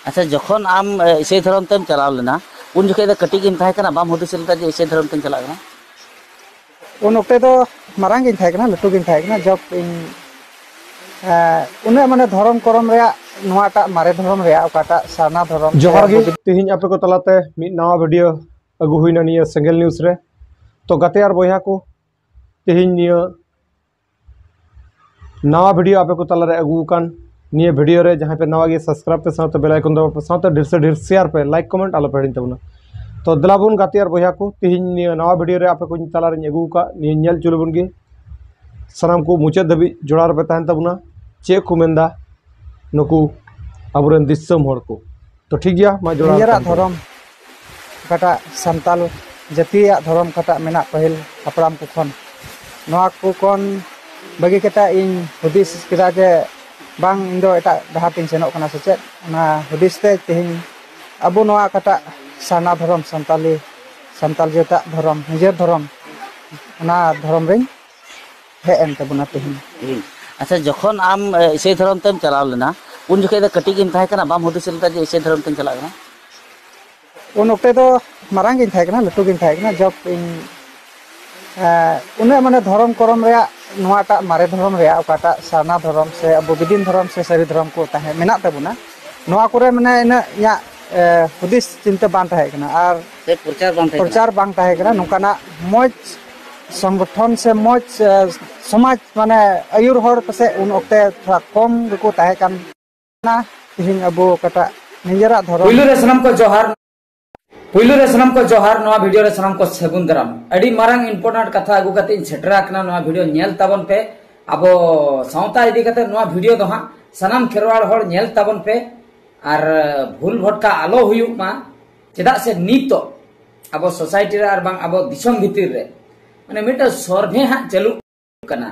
ᱟᱪᱪᱷᱟ ᱡᱚᱠᱷᱚᱱ ᱟᱢ ᱤᱥᱟᱹᱭ ᱫᱷᱚᱨᱚᱢ ᱛᱮᱢ ᱪᱟᱞᱟᱣ ᱞᱮᱱᱟ ᱩᱱ ᱡᱚᱠᱷᱮᱡ ᱫᱚ ᱠᱟᱹᱴᱤᱡ ᱜᱮᱢ ᱛᱟᱦᱮᱸ ᱠᱟᱱᱟ ᱵᱟᱢ ᱦᱩᱫᱤᱥ ᱞᱮᱫᱟ ᱡᱮ ᱤᱥᱟᱹᱭ ᱫᱷᱚᱨᱚᱢ ᱛᱮᱧ ᱪᱟᱞᱟᱜ ᱠᱟᱱᱟ ᱩᱱ ᱚᱠᱛᱮ ᱫᱚ ᱢᱟᱨᱟᱝ ᱜᱤᱧ ᱛᱟᱦᱮᱸ ᱠᱟᱱᱟ ᱞᱟᱹᱴᱩ ᱜᱤᱧ ᱛᱟᱦᱮᱸ ᱠᱟᱱᱟ ᱡᱚᱵ ᱤᱧ ᱩᱱᱟᱹᱜ ᱢᱟᱱᱮ ᱫᱷᱚᱨᱚᱢ ᱠᱚᱨᱚᱢ ᱨᱮᱭᱟᱜ ᱱᱚᱣᱟᱴᱟᱜ ᱢᱟᱨᱮ ᱫᱷᱚᱨᱚᱢ ᱨᱮᱭᱟᱜ ᱚᱠᱟᱴᱟᱜ ᱥᱟᱨᱱᱟ ᱫᱷᱚᱨᱚᱢ ᱡᱚᱦᱟᱨ ᱜᱮ ᱛᱮᱦᱮᱧ ᱟᱯᱮ ᱠᱚ ᱛᱟᱞᱟᱛᱮ ᱢᱤᱫ ᱱᱟᱣᱟ ᱵᱷᱤᱰᱤᱭᱳ ᱟᱹᱜᱩ ᱦᱩᱭᱱᱟ ᱱᱤᱭᱟᱹ ᱥᱮᱸᱜᱮᱞ ᱱᱤᱭᱩᱡᱽ ᱨᱮ ᱛᱚ ᱜᱟᱛᱮ ᱟᱨ ᱵᱚᱭᱦᱟ ᱠᱚ ᱛᱮᱦᱮᱧ ᱱᱤᱭᱟᱹ ᱱᱟᱣᱟ ᱵᱷᱤᱰᱤᱭᱳ ᱟᱯᱮ ᱠᱚ ᱛᱟᱞᱟᱨᱮ ᱟᱹᱜᱩ ᱟᱠᱟᱱ ᱱᱤᱭᱟᱹ ᱵᱷᱤᱰᱤᱭᱳ ᱨᱮ ᱡᱟᱦᱟᱸᱭ ᱯᱮ ᱱᱟᱣᱟ ᱜᱮ ᱥᱟᱵᱥᱠᱨᱟᱭᱤᱵ ᱯᱮ ᱥᱟᱶᱛᱮ ᱵᱮᱞ ᱟᱭᱠᱚᱱ ᱫᱟᱵᱟᱣ ᱯᱮ ᱥᱟᱶᱛᱮ ᱰᱷᱮᱨ ᱥᱮ ᱰᱷᱮᱨ ᱥᱮᱭᱟᱨ ᱯᱮ ᱞᱟᱭᱤᱠ ᱠᱚᱢᱮᱱᱴ ᱟᱞᱚ ᱯᱮ ᱦᱤᱲᱤᱧ ᱛᱟᱵᱚᱱᱟ ᱛᱚ ᱫᱮᱞᱟ ᱵᱚᱱ ᱜᱟᱛᱮ ᱟᱨ ᱵᱚᱭᱦᱟ ᱠᱚ ᱛᱤᱦᱤᱧ ᱱᱤᱭᱟᱹ ᱱᱟᱣᱟ ᱵᱷᱤᱰᱤᱭᱳ ᱨᱮ ᱟᱯᱮ ᱠᱚᱧ ᱛᱟᱞᱟᱨᱮᱧ ᱟᱹᱜᱩ ᱟᱠᱟᱫ ᱱᱤᱭᱟᱹ ᱧᱮᱞ ᱦᱚᱪᱚ ᱞᱮᱵᱚᱱ ᱜᱮ ᱥᱟᱱᱟᱢ ᱠᱚ ᱢᱩᱪᱟᱹᱫ ᱫᱷᱟᱹᱵᱤᱡ ᱡᱚᱲᱟᱣ ᱨᱮᱯᱮ ᱛᱟᱦᱮᱱ ᱛᱟᱵᱚᱱᱟ ᱪᱮᱫ ᱠᱚ ᱢᱮᱱᱫᱟ ᱱᱩᱠᱩ ᱟᱵᱚᱨᱮᱱ ᱫᱤᱥᱚᱢ ᱦᱚᱲ ᱠᱚ ᱛᱚ ᱴᱷᱤᱠ ᱜᱮᱭᱟ ᱢᱟ ᱡᱚᱲᱟᱣ ᱱᱤᱡᱮᱨᱟᱜ ᱠᱟᱱ ᱜᱮᱭᱟ᱾ ᱫᱷᱚᱨᱚᱢ ᱚᱠᱟᱴᱟᱜ ᱥᱟᱱᱛᱟᱞ ᱡᱟᱹᱛᱤᱭᱟᱜ ᱫᱷᱚᱨᱚᱢ ᱚᱠᱟᱴᱟᱜ ᱢᱮᱱᱟᱜ ᱯᱟᱹᱦᱤᱞ ᱦᱟᱯᱲᱟᱢ ᱠᱚ ᱠᱷᱚᱱ ᱱᱚᱣᱟ ᱠᱚ ᱠᱷᱚᱱ ᱵᱟᱹᱜᱤ ᱠᱟᱛᱮᱫ ᱤᱧ ᱦᱩᱫᱤᱥ ᱠᱮᱫᱟ ᱡᱮ ᱵᱟᱝ ᱤᱧ ᱫᱚ ᱮᱴᱟᱜ ᱰᱟᱦᱟᱨ ᱛᱤᱧ ᱥᱮᱱᱚᱜ ᱠᱟᱱᱟ ᱥᱮ ᱪᱮᱫ ᱚᱱᱟ ᱦᱩᱫᱤᱥ ᱛᱮ ᱛᱮᱦᱮᱧ ᱟᱵᱚ ᱱᱚᱣᱟ ᱚᱠᱟᱴᱟᱜ ᱥᱟᱨᱱᱟ ᱫᱷᱚᱨᱚᱢ ᱥᱟᱱᱛᱟᱞᱤ ᱥᱟᱱᱛᱟᱞ ᱡᱟᱹᱛᱟᱜ ᱫᱷᱚᱨᱚᱢ ᱱᱤᱡᱮᱨ ᱫᱷᱚᱨᱚᱢ ᱚᱱᱟ ᱫᱷᱚᱨᱚᱢ ᱨᱮᱧ ᱦᱮᱡ ᱮᱱ ᱛᱟᱵᱚᱱᱟ ᱛᱮᱦᱮᱧ ᱟᱪᱪᱷᱟ ᱡᱚᱠᱷᱚᱱ ᱟᱢ ᱤᱥᱟᱹᱭ ᱫᱷᱚᱨᱚᱢ ᱛᱮᱢ ᱪᱟᱞᱟᱣ ᱞᱮᱱᱟ ᱩᱱ ᱡᱚᱠᱷᱮᱡ ᱫᱚ ᱠᱟᱹᱴᱤᱡ ᱜᱮᱢ ᱛᱟᱦᱮᱸ ᱠᱟᱱᱟ ᱵᱟᱢ ᱦᱩᱫᱤᱥ ᱞᱮᱫᱟ ᱡᱮ ᱤᱥᱟᱹᱭ ᱫᱷᱚᱨᱚᱢ ᱛᱮᱢ ᱪᱟᱞᱟᱜ ᱠᱟᱱᱟ ᱩᱱ ᱚᱠᱛᱮ ᱫᱚ ᱢᱟᱨᱟᱝ ᱜᱤᱧ ᱛᱟᱦᱮᱸ ᱠᱟᱱᱟ ᱞᱟᱹᱴᱩ ᱜᱤᱧ ᱛᱟᱦᱮᱸ ᱠᱟᱱᱟ ᱡᱚᱵ ᱤᱧ ᱩᱱᱟᱹᱜ ᱢᱟᱱᱮ ᱫᱷᱚᱨᱚᱢ ᱠᱚᱨᱚᱢ ᱨᱮᱭᱟᱜ ᱱᱚᱣᱟᱴᱟᱜ ᱢᱟᱨᱮ ᱫᱷᱚᱨᱚᱢ ᱨᱮᱭᱟᱜ ᱚᱠᱟᱴᱟᱜ ᱥᱟᱨᱱᱟ ᱫᱷᱚᱨᱚᱢ ᱥᱮ ᱟᱵᱚ ᱵᱤᱫᱤᱱ ᱫᱷᱚᱨᱚᱢ ᱥᱮ ᱥᱟᱹᱨᱤ ᱫᱷᱚᱨᱚᱢ ᱠᱚ ᱛᱟᱦᱮᱸ ᱢᱮᱱᱟᱜ ᱛᱟᱵᱚᱱᱟ ᱱᱚᱣᱟ ᱠᱚᱨᱮ ᱢᱟᱱᱮ ᱤᱱᱟᱹᱜ ᱤᱧᱟᱹᱜ ᱦᱩᱫᱤᱥ ᱪᱤᱱᱛᱟᱹ ᱵᱟᱝ ᱛᱟᱦᱮᱸ ᱠᱟᱱᱟ ᱟᱨ ᱯᱨᱚᱪᱟᱨ ᱵᱟᱝ ᱛᱟᱦᱮᱸ ᱠᱟᱱᱟ ᱱᱚᱝᱠᱟᱱᱟᱜ ᱢᱚᱡᱽ ᱥᱚᱝᱜᱚᱴᱷᱚᱱ ᱥᱮ ᱢᱚᱡᱽ ᱥᱚᱢᱟᱡᱽ ᱢᱟᱱᱮ ᱟᱹᱭᱩᱨ ᱦᱚᱲ ᱯᱟᱥᱮᱡ ᱩᱱ ᱚᱠᱛᱮ ᱛᱷᱚᱲᱟ ᱠᱚᱢ ᱜᱮᱠᱚ ᱛᱟᱦᱮᱸ ᱠᱟᱱ ᱛᱮᱦᱮᱧ ᱟᱵᱚ ᱚᱠᱟᱴᱟᱜ ᱱᱤᱡᱮᱨᱟᱜ ᱫᱷᱚᱨᱚᱢ ᱯᱩᱭᱞᱩ ᱨᱮ ᱥᱟᱱᱟᱢ ᱠᱚ ᱡᱚᱦᱟᱨ ᱯᱩᱭᱞᱩ ᱨᱮ ᱥᱟᱱᱟᱢ ᱠᱚ ᱡᱚᱦᱟᱨ ᱱᱚᱣᱟ ᱵᱷᱤᱰᱤᱭᱳ ᱨᱮ ᱥᱟᱱᱟᱢ ᱠᱚ ᱥᱟᱹᱜᱩᱱ ᱫᱟᱨᱟᱢ ᱟᱹᱰᱤ ᱢᱟᱨᱟᱝ ᱤᱢᱯᱚᱨᱴᱮᱱᱴ ᱠᱟᱛᱷᱟ ᱟᱹᱜᱩ ᱠᱟᱛᱮ ᱤᱧ ᱥᱮᱴᱮᱨ ᱟᱠᱟᱱᱟ ᱱᱚᱣᱟ ᱵᱷᱤᱰᱤᱭᱳ ᱧᱮᱞ ᱛᱟᱵᱚᱱ ᱯᱮ ᱟᱵᱚ ᱥᱟᱶᱛᱟ ᱤᱫᱤ ᱠᱟᱛᱮ ᱱᱚᱣᱟ ᱵᱷᱤᱰᱤᱭᱳ ᱫᱚ ᱦᱟᱸᱜ ᱥᱟᱱᱟᱢ ᱠᱷᱮᱨᱣᱟᱲ ᱦᱚᱲ ᱧᱮᱞ ᱛᱟᱵᱚᱱ ᱯᱮ ᱟᱨ ᱵᱷᱩᱞ ᱵᱷᱚᱴᱠᱟ ᱟᱞᱚ ᱦᱩᱭᱩᱜ ᱢᱟ ᱪᱮᱫᱟᱜ ᱥᱮ ᱱᱤᱛᱚᱜ ᱟᱵᱚ ᱥᱳᱥᱟᱭᱴᱤ ᱨᱮ ᱟᱨ ᱵᱟᱝ ᱟᱵᱚ ᱫᱤᱥᱚᱢ ᱵᱷᱤᱛᱤᱨ ᱨᱮ ᱢᱟᱱᱮ ᱢᱤᱫᱴᱟᱝ ᱥᱚᱨᱵᱷᱮ ᱦᱟᱸᱜ ᱪᱟᱹᱞᱩ ᱠᱟᱱᱟ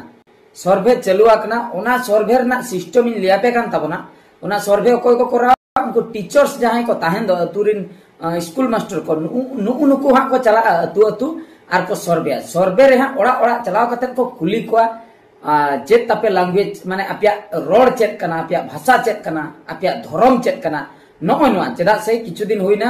ᱥᱚᱨᱵᱷᱮ ᱪᱟᱹᱞᱩ ᱟᱠᱟᱱᱟ ᱚᱱᱟ ᱥᱚᱨᱵᱷᱮ ᱨᱮᱱᱟᱜ ᱥᱤᱥᱴᱮᱢ ᱤᱧ ᱞᱟᱹᱭᱟᱯᱮ ᱠᱟᱱ ᱛᱟᱵᱚᱱᱟ ᱚᱱᱟ ᱥᱚᱨᱵᱷᱮ ᱚᱠᱚᱭ ᱠᱚ ᱠᱚᱨᱟᱣᱟ ᱩᱱᱠᱩ ᱴᱤᱪᱟᱨᱥ ᱡᱟᱦᱟᱸᱭ ᱠᱚ ᱛᱟᱦᱮᱱ ᱫᱚ ᱟᱹᱛᱩ ᱨᱤᱱ ᱥᱠᱩᱞ ᱢᱟᱥᱴᱟᱨ ᱠᱚ ᱱᱩᱜᱩ ᱱᱩᱠᱩ ᱦᱟᱸᱜ ᱠᱚ ᱪᱟᱞᱟᱜᱼᱟ ᱟᱹᱛᱩ ᱟᱹᱛᱩ ᱟᱨ ᱠᱚ ᱥᱚᱨᱵᱷᱮᱭᱟ ᱥᱚᱨᱵᱷᱮ ᱨᱮ ᱦᱟᱸᱜ ᱚᱲᱟᱜ ᱚᱲᱟᱜ ᱪᱟᱞᱟᱣ ᱠᱟᱛᱮ ᱠᱚ ᱠᱩᱞᱤ ᱠᱚᱣᱟ ᱪᱮᱫ ᱛᱟᱯᱮ ᱞᱟᱝᱜᱩᱭᱮᱡᱽ ᱢᱟᱱᱮ ᱟᱯᱮᱭᱟᱜ ᱨᱚᱲ ᱪᱮᱫ ᱠᱟᱱᱟ ᱟᱯᱮᱭᱟᱜ ᱵᱷᱟᱥᱟ ᱪᱮᱫ ᱠᱟᱱᱟ ᱟᱯᱮᱭᱟᱜ ᱫᱷᱚᱨᱚᱢ ᱪᱮᱫ ᱠᱟᱱᱟ ᱱᱚᱜᱼᱚᱭ ᱱᱚᱣᱟ ᱪᱮᱫᱟᱜ ᱥᱮ ᱠᱤᱪᱷᱩ ᱫᱤᱱ ᱦᱩᱭᱱᱟ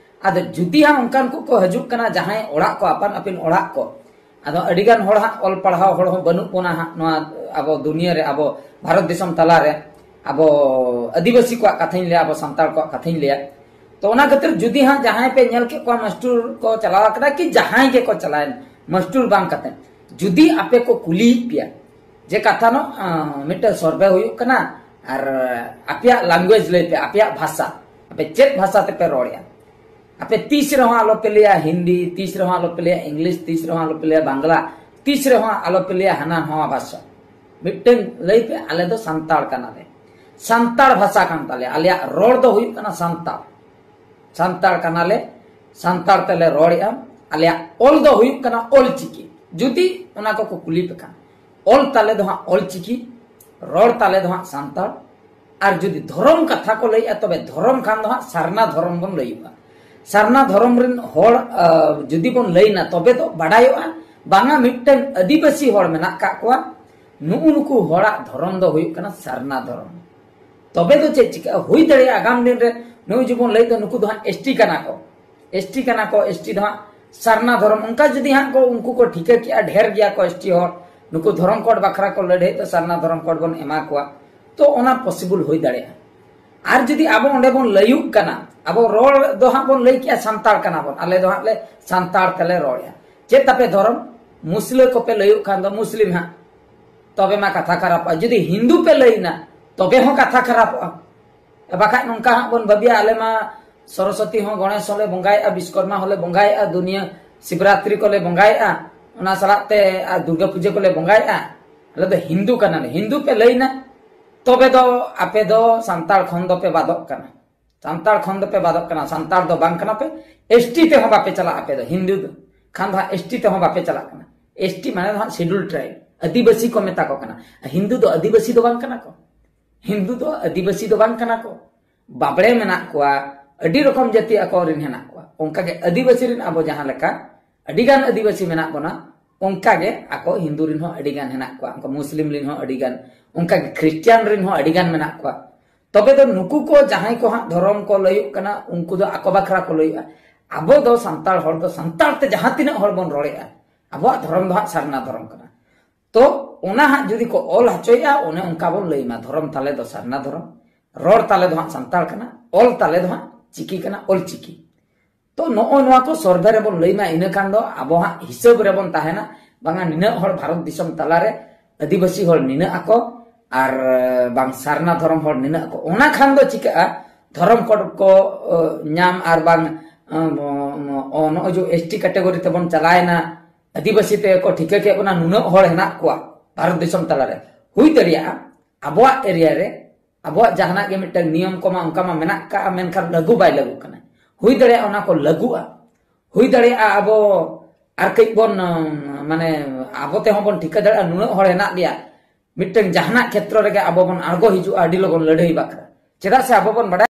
ᱟᱫᱚ ᱡᱩᱫᱤ ᱦᱟᱸᱜ ᱚᱱᱠᱟᱱ ᱠᱚᱠᱚ ᱦᱤᱡᱩᱜ ᱠᱟᱱᱟ ᱡᱟᱦᱟᱸᱭ ᱚᱲᱟᱜ ᱠᱚ ᱟᱯᱟᱱ ᱟᱹᱯᱤᱱ ᱚᱲᱟᱜ ᱠᱚ ᱟᱫᱚ ᱟᱹᱰᱤ ᱜᱟᱱ ᱦᱚᱲ ᱦᱟᱸᱜ ᱚᱞ ᱯᱟᱲᱦᱟᱣ ᱦᱚᱲ ᱦᱚᱸ ᱵᱟᱹᱱᱩᱜ ᱵᱚᱱᱟ ᱦᱟᱸᱜ ᱱᱚᱣᱟ ᱟᱵᱚ ᱫᱩᱱᱤᱭᱟᱹ ᱨᱮ ᱟᱵᱚ ᱵᱷᱟᱨᱚᱛ ᱫᱤᱥᱚᱢ ᱛᱟᱞᱟ ᱨᱮ ᱟᱵᱚ ᱟᱹᱫᱤᱵᱟᱹᱥᱤ ᱠᱚᱣᱟᱜ ᱠᱟᱛᱷᱟᱧ ᱞᱟᱹᱭᱟ ᱟᱵᱚ ᱥᱟᱱᱛᱟᱲ ᱠᱚᱣᱟᱜ ᱠᱟᱛᱷᱟᱧ ᱞᱟᱹᱭᱟ ᱛᱚ ᱚᱱᱟ ᱠᱷᱟᱹᱛᱤᱨ ᱡᱩᱫᱤ ᱦᱟᱸᱜ ᱡᱟᱦᱟᱸᱭ ᱯᱮ ᱧᱮᱞ ᱠᱮᱫ ᱠᱚᱣᱟ ᱢᱟᱥᱴᱩᱨ ᱠᱚ ᱪᱟᱞᱟᱣ ᱟᱠᱟᱱᱟ ᱠᱤ ᱡᱟᱦᱟᱸᱭ ᱜᱮ ᱠᱚ ᱪᱟᱞᱟᱣᱮᱱ ᱢᱟᱥᱴᱩᱨ ᱵᱟᱝ ᱠᱟᱛᱮ ᱡᱩᱫᱤ ᱟᱯᱮ ᱠᱚ ᱠᱩᱞᱤᱭᱮᱫ ᱯᱮᱭᱟ ᱡᱮ ᱠᱟᱛᱷᱟ ᱱᱚ ᱢᱤᱫᱴᱟᱝ ᱥᱚᱨᱵᱷᱮ ᱦᱩᱭᱩᱜ ᱠᱟᱱᱟ ᱟᱨ ᱟᱯᱮᱭᱟᱜ ᱞᱟᱝᱜᱩᱭᱮᱡᱽ ᱞᱟᱹᱭ ᱯᱮ ᱟᱯᱮᱭᱟᱜ ᱵᱷᱟᱥᱟ ᱟᱯᱮ ᱪᱮᱫ ᱵᱷᱟᱥᱟ ᱛᱮᱯᱮ ᱨᱚᱲᱮᱜᱼᱟ ᱟᱯᱮ ᱛᱤᱥ ᱨᱮᱦᱚᱸ ᱟᱞᱚ ᱯᱮ ᱞᱟᱹᱭᱟ ᱦᱤᱱᱫᱤ ᱛᱤᱥ ᱨᱮᱦᱚᱸ ᱟᱞᱚ ᱯᱮ ᱞᱟᱹᱭᱟ ᱤᱝᱞᱤᱥ ᱛᱤᱥ ᱨᱮᱦᱚᱸ ᱟᱞᱚ ᱯᱮ ᱞᱟᱹᱭᱟ ᱵᱟᱝᱞᱟ ᱛᱤᱥ ᱨᱮᱦᱚᱸ ᱟᱞᱚ ᱯᱮ ᱞᱟᱹᱭᱟ ᱦᱟᱱᱟ ᱱᱟᱣᱟ ᱵᱷᱟᱥᱟ ᱢᱤᱫᱴᱮᱱ ᱞᱟᱹᱭ ᱯᱮ ᱟᱞᱮ ᱫᱚ ᱥᱟᱱᱛᱟᱲ ᱠᱟᱱᱟᱞᱮ ᱥᱟᱱᱛᱟᱲ ᱵᱷᱟᱥᱟ ᱠᱟᱱ ᱛᱟᱞᱮᱭᱟ ᱟᱞᱮᱭᱟᱜ ᱨᱚᱲ ᱫᱚ ᱦᱩᱭᱩᱜ ᱠᱟᱱᱟ ᱥᱟᱱᱛᱟᱲ ᱥᱟᱱᱛᱟᱲ ᱠᱟᱱᱟᱞᱮ ᱥᱟᱱᱛᱟᱲ ᱛᱮᱞᱮ ᱨᱚᱲᱮᱜᱼᱟ ᱟᱞᱮᱭᱟᱜ ᱚᱞ ᱫᱚ ᱦᱩᱭᱩᱜ ᱠᱟᱱᱟ ᱚᱞ ᱪᱤᱠᱤ ᱡᱩᱫᱤ ᱚᱱᱟ ᱠᱚᱠᱚ ᱠᱩᱞᱤ ᱯᱮ ᱠᱷᱟᱱ ᱚᱞ ᱛᱟᱞᱮ ᱫᱚ ᱦᱟᱸᱜ ᱚᱞ ᱪᱤᱠᱤ ᱨᱚᱲ ᱛᱟᱞᱮ ᱫᱚ ᱦᱟᱸᱜ ᱥᱟᱱᱛᱟᱲ ᱟᱨ ᱡᱩᱫᱤ ᱫᱷᱚᱨᱚᱢ ᱠᱟᱛᱷᱟ ᱠᱚ ᱞᱟᱹᱭᱮᱜᱼᱟ ᱛᱚᱵᱮ ᱫᱷᱚᱨᱚᱢ ᱠᱷᱟᱱ ᱫᱚ ᱦᱟᱸᱜ ᱥᱟᱨᱱᱟ ᱫᱷᱚᱨᱚᱢ ᱵᱚᱱ ᱞᱟᱹᱭᱚᱜᱼᱟ ᱥᱟᱨᱱᱟ ᱫᱷᱚᱨᱚᱢ ᱨᱮᱱ ᱦᱚᱲ ᱡᱩᱫᱤ ᱵᱚᱱ ᱞᱟᱹᱭᱱᱟ ᱛᱚᱵᱮ ᱫᱚ ᱵᱟᱰᱟᱭᱚᱜᱼᱟ ᱵᱟᱝᱟ ᱢᱤᱫᱴᱟᱝ ᱟᱹᱫᱤᱵᱟᱹᱥᱤ ᱦᱚᱲ ᱢᱮᱱᱟᱜ ᱠᱟᱜ ᱠᱚᱣᱟ ᱱᱩᱜᱩ ᱱᱩᱠᱩ ᱦᱚᱲᱟᱜ ᱫᱷᱚᱨᱚᱢ ᱫᱚ ᱦᱩᱭᱩᱜ ᱠᱟᱱᱟ ᱥᱟᱨᱱᱟ ᱫᱷᱚᱨᱚᱢ ᱛᱚᱵᱮ ᱫᱚ ᱪᱮᱫ ᱪᱤᱠᱟᱹᱜᱼᱟ ᱦᱩᱭ ᱫᱟᱲᱮᱭᱟᱜᱼᱟ ᱟᱜᱟᱢ ᱫᱤᱱ ᱨᱮ ᱱᱩᱜᱩ ᱡᱮᱵᱚᱱ ᱞᱟᱹᱭ ᱫᱚ ᱱᱩᱠᱩ ᱫᱚ ᱦᱟᱸᱜ ᱮᱥᱴᱤ ᱠᱟᱱᱟ ᱠᱚ ᱮᱥᱴᱤ ᱠᱟᱱᱟ ᱠᱚ ᱮᱥᱴᱤ ᱫᱚ ᱦᱟᱸᱜ ᱥᱟᱨᱱᱟ ᱫᱷᱚᱨᱚᱢ ᱚᱱᱠᱟ ᱡᱩᱫᱤ ᱦᱟᱸᱜ ᱠᱚ ᱩᱱᱠᱩ ᱠᱚ ᱴᱷᱤᱠᱟᱹ ᱠᱮᱜᱼᱟ ᱰᱷᱮᱨ ᱜᱮᱭᱟ ᱠᱚ ᱮᱥᱴᱤ ᱦᱚᱲ ᱱᱩᱠᱩ ᱫᱷᱚᱨᱚᱢ ᱠᱳᱰ ᱵᱟᱠᱷᱨᱟ ᱠᱚ ᱞᱟᱹᱲᱦᱟᱹᱭ ᱫᱚ ᱥᱟᱨᱱᱟ ᱫᱷᱚᱨᱚᱢ ᱠᱳᱰ ᱵᱚᱱ ᱮᱢᱟ ᱠᱚᱣᱟ ᱛᱚ ᱚᱱᱟ ᱯᱚᱥᱤᱵᱚᱞ ᱦᱩᱭ ᱫᱟᱲᱮᱭᱟᱜᱼᱟ ᱟᱨ ᱡᱩᱫᱤ ᱟᱵᱚ ᱚᱸᱰᱮ ᱵᱚᱱ ᱞᱟᱹᱭᱩᱜ ᱠᱟᱱᱟ ᱟᱵᱚ ᱨᱚᱲ ᱫᱚ ᱦᱟᱸᱜ ᱵᱚᱱ ᱞᱟᱹᱭ ᱠᱮᱜᱼᱟ ᱥᱟᱱᱛᱟᱲ ᱠᱟᱱᱟ ᱵᱚᱱ ᱟᱞᱮ ᱫᱚ ᱦᱟᱸᱜ ᱞᱮ ᱥᱟᱱᱛᱟᱲ ᱛᱮᱞᱮ ᱨᱚᱲᱮᱜᱼᱟ ᱪᱮᱫ ᱛᱟᱯᱮ ᱫᱷᱚᱨᱚᱢ ᱢᱩᱥᱞᱟᱹ ᱠᱚᱯᱮ ᱞᱟᱹᱭᱩᱜ ᱠᱷᱟᱱ ᱫᱚ ᱢᱩᱥᱞᱤᱢ ᱦᱟᱸᱜ ᱛᱚᱵᱮ ᱢᱟ ᱠᱟᱛᱷᱟ ᱠᱷᱟᱨᱟᱯᱚᱜᱼᱟ ᱡᱩᱫᱤ ᱦᱤᱱᱫᱩ ᱯᱮ ᱞᱟᱹᱭᱱᱟ ᱛᱚᱵᱮ ᱦᱚᱸ ᱠᱟᱛᱷᱟ ᱠᱷᱟᱨᱟᱯᱚᱜᱼᱟ ᱵᱟᱠᱷᱟᱡ ᱱᱚᱝᱠᱟ ᱦᱟᱸᱜ ᱵᱚᱱ ᱵᱟᱹᱵᱤᱭᱟ ᱟᱞᱮ ᱢᱟ ᱥᱚᱨᱚᱥᱚᱛᱤ ᱦᱚᱸ ᱜᱚᱬᱮᱥ ᱦᱚᱸᱞᱮ ᱵᱚᱸᱜᱟᱭᱮᱜᱼᱟ ᱵᱤᱥᱠᱚᱨᱢᱟ ᱦᱚᱸᱞᱮ ᱵᱚᱸᱜᱟᱭᱮᱜᱼᱟ ᱫᱩᱱᱤᱭᱟᱹ ᱥᱤᱵᱨᱟᱛᱨᱤ ᱠᱚᱞᱮ ᱵᱚᱸᱜᱟᱭᱮᱜᱼᱟ ᱚᱱᱟ ᱥᱟᱞᱟᱜ ᱛᱮ ᱫᱩᱨᱜᱟᱹ ᱯᱩᱡᱟᱹ ᱠᱚᱞᱮ ᱵᱚᱸᱜᱟᱭᱮᱜᱼᱟ ᱟᱞᱮ ᱫᱚ ᱦᱤᱱᱫᱩ ᱠᱟᱱᱟᱞᱮ ᱦᱤᱱᱫᱩ ᱯᱮ ᱞᱟᱹᱭᱱᱟ ᱛᱚᱵᱮ ᱫᱚ ᱟᱯᱮ ᱫᱚ ᱥᱟᱱᱛᱟᱲ ᱠᱷᱚᱱ ᱫᱚ ᱯᱮ ᱵᱟᱫᱚᱜ ᱠᱟᱱᱟ ᱥᱟᱱᱛᱟᱲ ᱠᱷᱚᱱ ᱫᱚ ᱯᱮ ᱵᱟᱫᱚᱜ ᱠᱟᱱᱟ ᱥᱟᱱᱛᱟᱲ ᱫᱚ ᱵᱟᱝ ᱠᱟᱱᱟ ᱯᱮ ᱮᱥᱴᱤ ᱛᱮ ᱦᱚᱸ ᱵᱟᱯᱮ ᱪᱟᱞᱟᱜ ᱟᱯᱮ ᱫᱚ ᱦᱤᱱᱫᱩ ᱫᱚ ᱠᱷᱟᱱ ᱫᱚ ᱮᱥᱴᱤ ᱛᱮ ᱦᱚᱸ ᱵᱟᱯᱮ ᱪᱟᱞᱟᱜ ᱠᱟᱱᱟ ᱮᱥᱴᱤ ᱢᱟᱱᱮ ᱫᱚ ᱥᱮᱰᱩᱞ ᱴᱨᱟᱭᱤᱵ ᱟᱹᱫᱤᱵᱟᱹᱥᱤ ᱠᱚ ᱢᱮᱛᱟ ᱠᱚ ᱠᱟᱱᱟ ᱦᱤᱱᱫᱩ ᱫᱚ ᱟᱹᱫᱤᱵᱟᱹᱥᱤ ᱫᱚ ᱵᱟᱝ ᱠᱟᱱᱟ ᱠᱚ ᱦᱤᱱᱫᱩ ᱫᱚ ᱟᱹᱫᱤᱵᱟᱹᱥᱤ ᱫᱚ ᱵᱟᱝ ᱠᱟᱱᱟ ᱠᱚ ᱵᱟᱵᱲᱮ ᱢᱮᱱᱟᱜ ᱠᱚᱣᱟ ᱟᱹᱰᱤ ᱨᱚᱠᱚᱢ ᱡᱟᱹᱛᱤ ᱟᱠᱚ ᱨᱮᱱ ᱦᱮᱱᱟᱜ ᱠᱚᱣᱟ ᱚᱱᱠᱟᱜᱮ ᱟᱹᱫᱤᱵᱟᱹᱥᱤ ᱨᱮᱱ ᱟᱵᱚ ᱡᱟᱦᱟᱸ ᱞᱮᱠᱟ ᱟᱹᱰᱤᱜᱟᱱ ᱟᱹᱫᱤᱵᱟᱹᱥᱤ ᱢᱮᱱᱟᱜ ᱵᱚᱱᱟ ᱚᱱᱠᱟᱜᱮ ᱟᱠᱚ ᱦᱤᱱᱫᱩ ᱨᱮᱱ ᱦᱚᱸ ᱟᱹᱰᱤᱜᱟᱱ ᱦᱮᱱᱟᱜ ᱠᱚᱣᱟ ᱚᱱᱠᱟ ᱢᱩᱥᱞᱤᱢ ᱨᱮᱱ ᱦᱚᱸ ᱟᱹᱰᱤᱜᱟᱱ ᱚᱱᱠᱟᱜᱮ ᱠᱷᱨᱤᱥᱴᱤᱭᱟᱱ ᱨᱮᱱ ᱦᱚᱸ ᱟᱹᱰᱤᱜᱟᱱ ᱢᱮᱱᱟᱜ ᱠᱚᱣᱟ ᱛᱚᱵᱮ ᱫᱚ ᱱᱩᱠᱩ ᱠᱚ ᱡᱟᱦᱟᱸᱭ ᱠᱚ ᱦᱟᱸᱜ ᱫᱷᱚᱨᱚᱢ ᱠᱚ ᱞᱟᱹᱭᱚᱜ ᱠᱟᱱᱟ ᱩᱱᱠᱩ ᱫᱚ ᱟᱠᱚ ᱵᱟᱠᱷᱨᱟ ᱠᱚ ᱞᱟᱹᱭᱚᱜᱼᱟ ᱟᱵᱚ ᱫᱚ ᱥᱟᱱᱛᱟᱲ ᱦᱚᱲ ᱫᱚ ᱥᱟᱱᱛᱟᱲ ᱛᱮ ᱡᱟᱦᱟᱸ ᱛᱤᱱᱟᱹᱜ ᱦᱚᱲ ᱵᱚᱱ ᱨᱚᱲᱮᱜᱼᱟ ᱟᱵᱚᱣᱟᱜ ᱫᱷᱚᱨᱚᱢ ᱫᱚ ᱦᱟᱸᱜ ᱥᱟᱨᱱᱟ ᱫᱷᱚᱨᱚᱢ ᱠᱟᱱᱟ ᱛᱚ ᱚᱱᱟ ᱦᱟᱸᱜ ᱡᱩᱫᱤ ᱠᱚ ᱚᱞ ᱦᱚᱪᱚᱭᱮᱜᱼᱟ ᱚᱱᱮ ᱚᱱᱠᱟ ᱵᱚᱱ ᱞᱟᱹᱭᱢᱟ ᱫᱷᱚᱨᱚᱢ ᱛᱟᱞᱮ ᱫᱚ ᱥᱟᱨᱱᱟ ᱫᱷᱚᱨᱚᱢ ᱨᱚᱲ ᱛᱟᱞᱮ ᱫᱚ ᱦᱟᱸᱜ ᱥᱟᱱᱛᱟᱲ ᱠᱟᱱᱟ ᱚᱞ ᱛᱟᱞᱮ ᱫᱚ ᱦᱟᱸᱜ ᱪᱤᱠᱤ ᱠᱟᱱᱟ ᱚᱞ ᱪᱤᱠᱤ ᱛᱚ ᱱᱚᱜᱼᱚ ᱱᱚᱣᱟ ᱠᱚ ᱥᱚᱨᱵᱷᱮ ᱨᱮᱵᱚᱱ ᱞᱟᱹᱭᱢᱟ ᱤᱱᱟᱹ ᱠᱷᱟᱱ ᱫᱚ ᱟᱵᱚ ᱦᱟᱸᱜ ᱦᱤᱥᱟᱹᱵ ᱨᱮᱵᱚᱱ ᱛᱟᱦᱮᱱᱟ ᱵᱟᱝᱟ ᱱᱤᱱᱟᱹᱜ ᱦᱚᱲ ᱵᱷᱟᱨᱚᱛ ᱫᱤᱥᱚᱢ ᱛᱟᱞᱟᱨᱮ ᱟᱹᱫᱤᱵᱟᱹᱥᱤ ᱦᱚᱲ ᱱᱤᱱᱟᱹᱜ ᱟᱠᱚ ᱟᱨ ᱵᱟᱝ ᱥᱟᱨᱱᱟ ᱫᱷᱚᱨᱚᱢ ᱦᱚᱲ ᱱᱤᱱᱟᱹᱜ ᱟᱠᱚ ᱚᱱᱟ ᱠᱷᱟᱱ ᱫᱚ ᱪᱤᱠᱟᱹᱜᱼᱟ ᱫᱷᱚᱨᱚᱢ ᱠᱚᱰ ᱠᱚ ᱧᱟᱢ ᱟᱨ ᱵᱟᱝ ᱱᱚᱜᱼᱚᱭ ᱡᱮ ᱮᱥ ᱴᱤ ᱠᱮᱴᱮᱜᱚᱨᱤ ᱛᱮᱵᱚᱱ ᱪᱟᱞᱟᱣᱮᱱᱟ ᱟᱹᱫᱤᱵᱟᱹᱥᱤ ᱛᱮᱠᱚ ᱴᱷᱤᱠᱟᱹ ᱠᱮᱫ ᱵᱚᱱᱟ ᱱᱩᱱᱟᱹᱜ ᱦᱚᱲ ᱦᱮᱱᱟᱜ ᱠᱚᱣᱟ ᱵᱷᱟᱨᱚᱛ ᱫᱤᱥᱚᱢ ᱛᱟᱞᱟᱨᱮ ᱦᱩᱭ ᱫᱟᱲᱮᱭᱟᱜᱼᱟ ᱟᱵᱚᱣᱟᱜ ᱮᱨᱤᱭᱟ ᱨᱮ ᱟᱵᱚᱣᱟᱜ ᱡᱟᱦᱟᱱᱟᱜ ᱜᱮ ᱢᱤᱫᱴᱟᱝ ᱱᱤᱭᱚᱢ ᱠᱚᱢᱟ ᱚᱱᱠᱟ ᱢᱟ ᱢᱮᱱᱟᱜ ᱠᱟᱜᱼᱟ ᱢᱮᱱᱠᱷᱟᱱ ᱞᱟᱹᱜᱩ ᱵᱟᱭ ᱞᱟᱹᱜᱩ ᱠᱟᱱᱟ ᱦᱩᱭ ᱫᱟᱲᱮᱭᱟᱜᱼᱟ ᱚᱱᱟ ᱠᱚ ᱞᱟᱹᱜᱩᱜᱼᱟ ᱦᱩᱭ ᱫᱟᱲᱮᱭᱟᱜᱼᱟ ᱟᱵᱚ ᱟᱨ ᱠᱟᱹᱡ ᱵᱚᱱ ᱢᱟᱱᱮ ᱟᱵᱚ ᱛᱮᱦᱚᱸ ᱵᱚᱱ ᱴᱷᱤᱠᱟᱹ ᱫᱟᱲᱮᱭᱟᱜᱼᱟ ᱱᱩᱱᱟᱹᱜ ᱦᱚᱲ ᱦᱮᱱᱟᱜ ᱞᱮᱭᱟ ᱢᱤᱫᱴᱟᱝ ᱡᱟᱦᱟᱱᱟᱜ ᱠᱷᱮᱛᱨᱚ ᱨᱮᱜᱮ ᱟᱵᱚ ᱵᱚᱱ ᱟᱬᱜᱚ ᱦᱤᱡᱩᱜᱼᱟ ᱟᱹᱰᱤ ᱞᱚᱜᱚᱱ ᱞᱟᱹᱲᱦᱟᱹᱭ ᱵᱟᱠᱷᱨᱟ ᱪᱮᱫᱟᱜ ᱥᱮ ᱟᱵᱚ ᱵᱚᱱ ᱵᱟᱰᱟᱭ